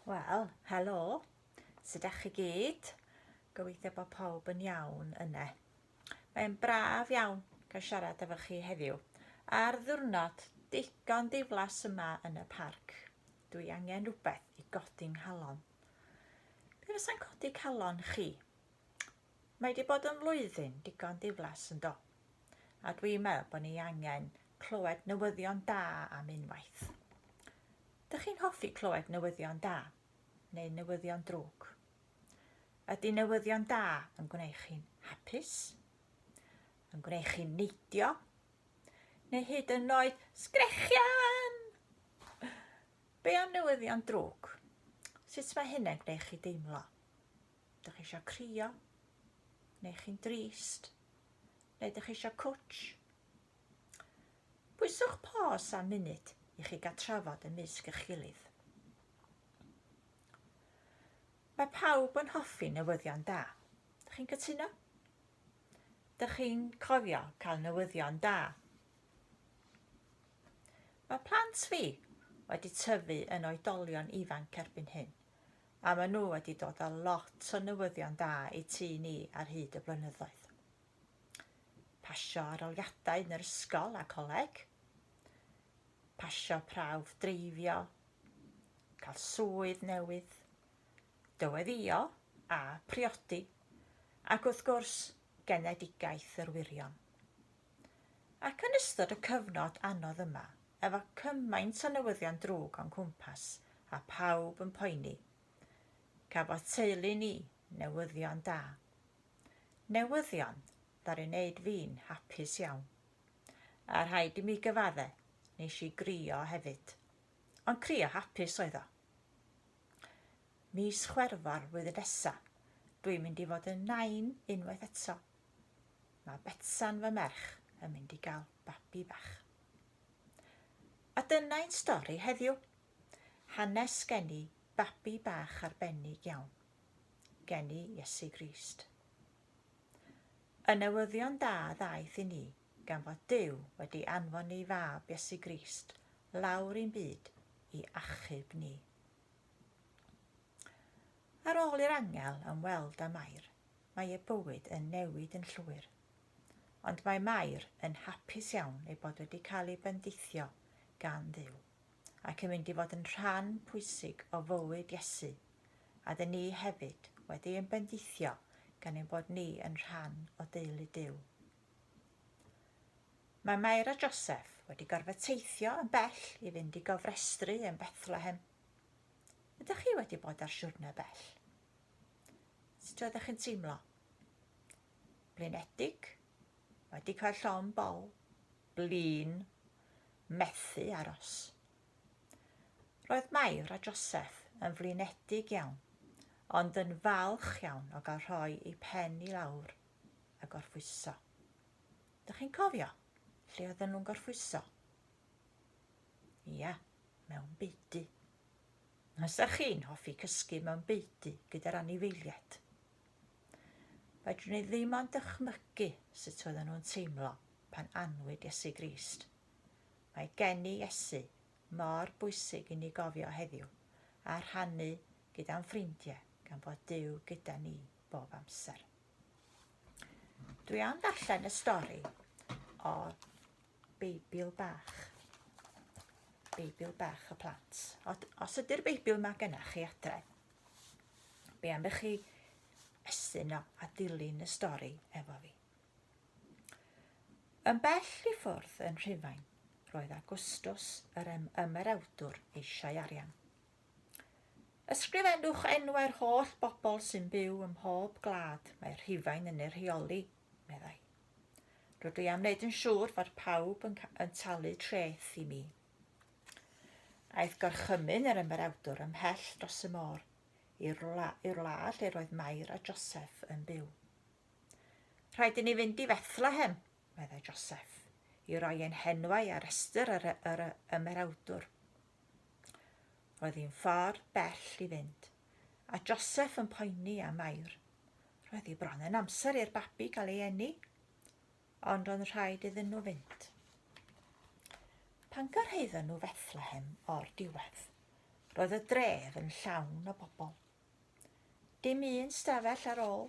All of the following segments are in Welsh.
Wel, helo, sut ydych chi gyd? Gobeithio bod pawb yn iawn yna. Mae'n braf iawn cael siarad efo chi heddiw ar ddiwrnod digon diflas yma yn y parc. Dwi angen rhywbeth i godi nghalon. Be fysa'n codi calon chi? Mae wedi bod yn flwyddyn digon ddiflas yn do? A dwi'n meddwl bod ni angen clywed newyddion da am unwaith. Dych chi'n hoffi clywed newyddion da neu newyddion drwg? Ydy newyddion da yn gwneud chi'n hapus? Yn gwneud chi'n neidio? Neu hyd yn oed sgrechian? Be am newyddion drwg? Sut mae hynny'n gwneud chi deimlo? Dych chi eisiau crio? Neu chi'n drist? Neu dych chi eisiau cwtsh? Pwyswch pos am munud i chi gael trafod ymysg eich gilydd. Mae pawb yn hoffi newyddion da. Dych chi'n cytuno? Dych chi'n cofio cael newyddion da? Mae plant fi wedi tyfu yn oedolion ifanc erbyn hyn. a maen nhw wedi dod â lot o newyddion da i tŷ ni ar hyd y blynyddoedd. Pasio aroliadau yn yr ysgol a coleg, pasio prawf dreifio, cael swydd newydd, dyweddïo a priodi, ac wrth gwrs, genedigaeth yr wirion. Ac yn ystod y cyfnod anodd yma, efo cymaint o newyddion drwg o'n cwmpas a pawb yn poeni, cafodd teulu ni newyddion da. Newyddion ddaru wneud fi'n hapus iawn. A rhaid i mi gyfadde, nes i grio hefyd. Ond crio hapus oedd o. Mis Chwerfawr flwyddyn nesa, dwi'n mynd i fod yn nain unwaith eto. Mae Betsan fy merch yn mynd i gael babi bach. A dyna ein stori heddiw. Hanes gen i babi bach arbennig iawn. Gen i Iesu Grist. Y newyddion da ddaeth i ni gan fod Duw wedi anfon ei fab Iesu Grist lawr i'n byd i achub ni. Ar ôl i'r angel ymweld â Mair, mae ei bywyd yn newid yn llwyr. Ond mae Mair yn hapus iawn ei bod wedi cael ei bendithio gan Dduw, ac yn mynd i fod yn rhan pwysig o fywyd Iesu, a dŷn ni hefyd wedi ein bendithio gan ein bod ni yn rhan o deulu Duw. Mae Mair a Joseph wedi gorfod teithio yn bell i fynd i gofrestru yn Bethlehem. Ydych chi wedi bod ar siwrne bell? Sut oeddech chi'n teimlo? Blinedig? Wedi cael llon bol? Blin? Methu aros? Roedd Mair a Joseph yn flinedig iawn, ond yn falch iawn o gael rhoi ei pen i lawr a gorffwyso. Dych chi'n cofio lle oedden nhw'n gorffwyso? Ia, mewn beudy. Os ydych chi'n hoffi cysgu mewn beudy gyda'r anifeiliaid, fedrwn ni ddim ond dychmygu sut oedden nhw'n teimlo pan anwyd Iesu Grist. Mae gen i Iesu mor bwysig i ni gofio heddiw a rhannu gyda'n ffrindiau gan fod Duw gyda ni bob amser. Dwi am ddarllen y stori o Beibl bach. Beibl bach y plant. Os ydy'r Beibl mae gennych chi adre, be am i chi estyn o a dilyn y stori efo fi? Yn bell i ffwrdd yn Rhufain, roedd Agustus yr ymerawdwr eisiau arian. Ysgrifennwch enwau'r holl bobl sy'n byw ym mhob glad mae Rhufain yn ei rheoli, meddai. Rydw i am wneud yn siŵr fod pawb yn, yn talu treth i mi. Aeth gorchymyn yr ymerawdwr ymhell dros y môr, i'r wla, i'r wla lle roedd Mair a Joseph yn byw. Rhaid i ni fynd i Fethlehem, meddai Joseph, i roi ein henwau ar restr yr, yr ymerawdwr. Roedd hi'n ffordd bell i fynd. a Joseph yn poeni am Mair. Roedd hi bron yn amser i'r babi gael ei eni, ond roedd yn rhaid iddyn nhw fynd. Pan gyrhaeddon nhw Fethlehem o'r diwedd, roedd y dref yn llawn o bobl. Dim un stafell ar ôl,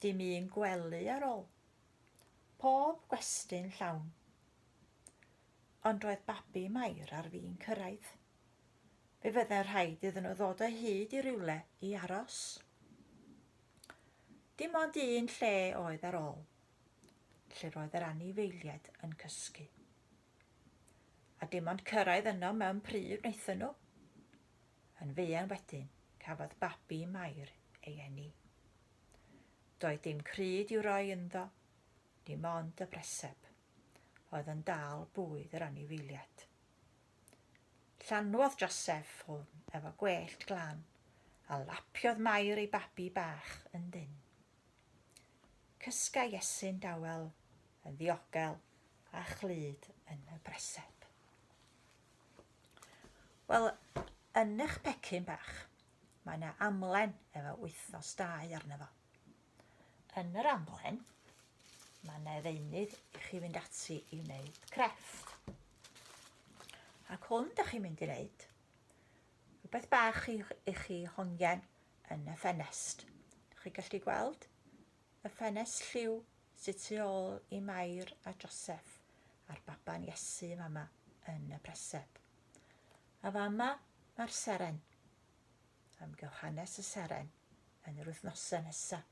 dim un gwely ar ôl. Pob gwesti'n llawn. Ond roedd babi Mair ar fin cyrraedd. fe fyddai rhaid iddyn nhw ddod o hyd i rywle i aros. Dim ond un lle oedd ar ôl, lle roedd yr anifeiliaid yn cysgu. A dim ond cyrraedd yno mewn pryd wnaethon nhw. Yn feian wedyn, cafodd babi Mair ei eni. Doedd dim cryd i'w roi ynddo, dim ond y breseb, oedd yn dal bwyd yr anifeiliad. Llanwodd Joseph hwn efo gwellt glan, a lapiodd Mair ei babi bach yn ddyn. Cysga Iesu'n dawel, yn ddiogel, a chlyd yn y breseb. Wel, yn eich pecyn bach, mae yna amlen efo wythnos dau arno fo. Yn yr amlen, mae yna ddeunydd i chi fynd ati i wneud crefft. Ac hwn ydych chi'n mynd i wneud rhywbeth bach i, i chi hongen yn y ffenest. Ydych chi gallu gweld y ffenest lliw sydd tu ôl i Mair a Joseph a'r baban Iesu fama yn y preseb. A fama mae'r seren. am Johannes y Seren yn yr wythnosau nesaf.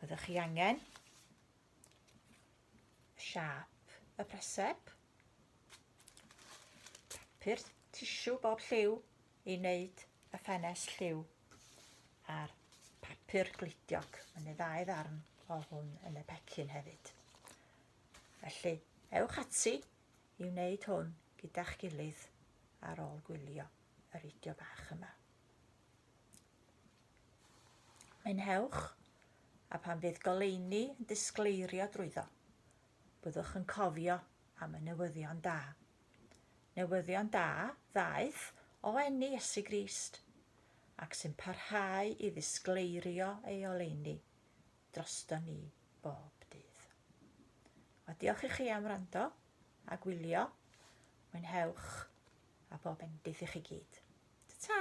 Byddwch chi angen siap y preseb, papur tisiw bob lliw i wneud y ffenes lliw a'r papur glidiog. Mae'n ei ddau ddarn o hwn yn y pecyn hefyd. Felly, ewch ati i wneud hwn gyda'ch gilydd ar ôl gwylio y fideo bach yma. Mynhewch, a pan fydd goleuni yn disgleirio drwyddo, byddwch yn cofio am y newyddion da. Newyddion da ddaeth o enni Iesu Grist, ac sy'n parhau i ddisgleirio ei oleuni droston ni bob dydd. A diolch i chi am wrando a gwylio. Mwynhewch a bob endith i chi gyd. Ta-ta!